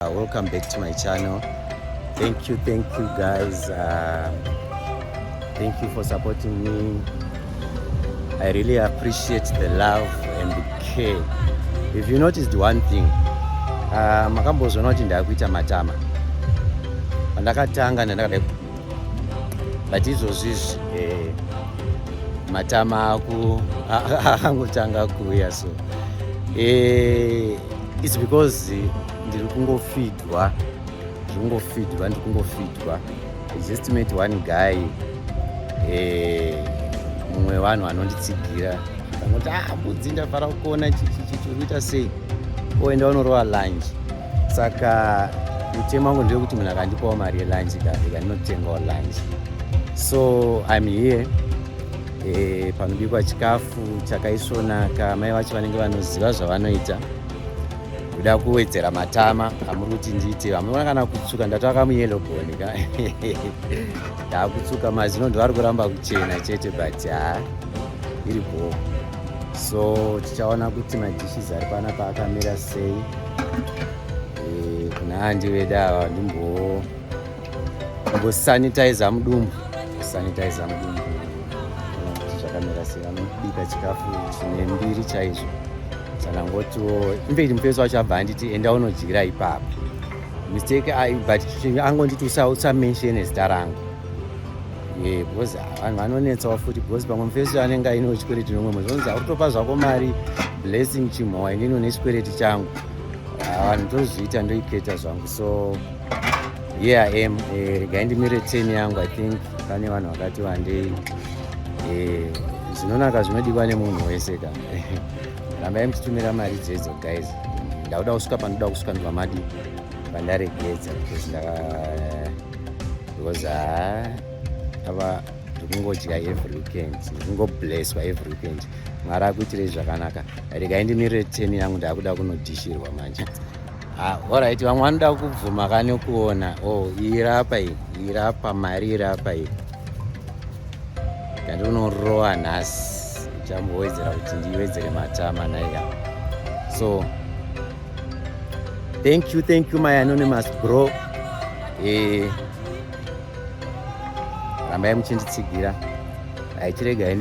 Uh, welcome back to my channel. Thank you, thank you guys. Uh, thank you for supporting me. I really appreciate the love and the care. If you noticed one thing, uh, makambozvona kuti ndakuita matama. Pandakatanga ndandakadai but izvozvi eh, matama akangotanga kuuya so eh, It's because eh, ndiri kungofidwa ndiri kungofidwa ndiri kungofidwa just met one guy eh, mumwe eh, vanhu anonditsigira angoti ah mbudzi ndafara kukuona chichichichi unoita sei oenda unorova lunch saka mutemo wangu ndewekuti munhu akandipawo mari yelunch ka ndikandinotengawo lunch so im here e, panobikwa chikafu chakaisvonaka mai vacho vanenge vanoziva zvavanoita kuda kuwedzera matama amuri kuti ndiite vamuona kana kutsuka ndataka muyelo boni ka ndakutsuka mazino ndivari kuramba kuchena chete but ha iri bhoo so tichaona kuti madishes ari pana paakamira sei e, kuna handi veda ava ndimbowo Kusanitizer mudumbu, kusanitizer mudumbu zvakamira sei, vanobika chikafu chine mbiri chaizvo. Chanangotiwo imberi mufesi wacho abva anditi enda unodyira ipapo. Mistake ayi but angonditi usamenshene zita rangu ye because vanhu vanonetsawo futi because pamwe mufesi anenge ainewo chikwereti nomwe mwezi onzi akutopa zvako mari blessing chimhowa inini une chikwereti changu ah, vanhu tozviita ndoiketa zvangu so here i am eh, regai ndimire ten yangu i think pane vanhu vakati wandei eh, zvinonaka zvinodiwa nemunhu wese ka rambai muchitumira mari dzedzo guys ndakuda kusvika pandoda kusvika ndivamadi pandaregedza because ndaka because ah, ava ndikungodya every weekend ndikungoblesswa every weekend mwari akuitirei zvakanaka regai ndimirire ten yangu ndakuda kunodhishirwa manje Ah, alright vamwe vanoda kubvuma kani kuona oh irapa iyi irapa mari irapa iyi ndandinorowa nhasi ndichambowedzera kuti ndiwedzere matama naye awa so thank you thank you my anonymous bro eh, rambai muchinditsigira aichiregai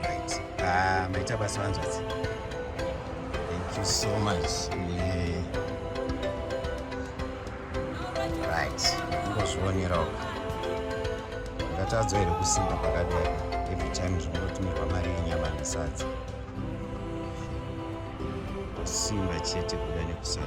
Right. Ah, maita basa vanzvadzi. Thank you so much. Yeah. Right. Ngozvionerawo. Ngatadzwa here kusimba pakadai every time zvinongotumirwa mari yenyama nesadza. Simba chete kuda nekusada.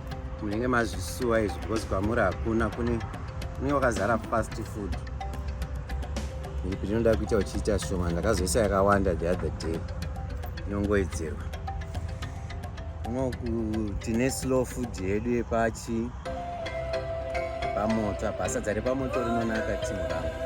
munenge mazvisuwa izvi because kwamuri hakuna kune kune wakazara fast food iripi rinoda kuita uchiita shoma ndakazoisa yakawanda the other day inongoedzerwa unoku tine slow food yedu yepachi pamoto apa sadza repamoto rinonaka timu rangu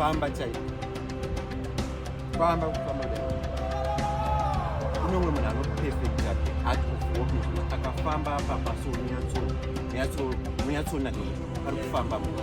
famba chaiko famba kufamba kune umwe munhu anopefekta art of walking akafamba apa paso munyatsoona pari kufamba munhu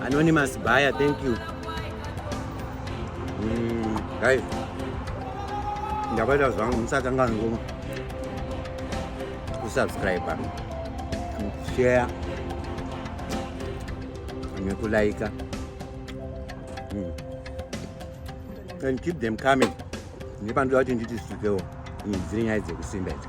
Anonymous buyer, thank you. Mm, guys, ndabata zvangu musatanga ngo kusubscribe and share nekulaika mm. and keep them coming nepandoda kuti nditi zvikewo dziri nyaya dzekusimba idzi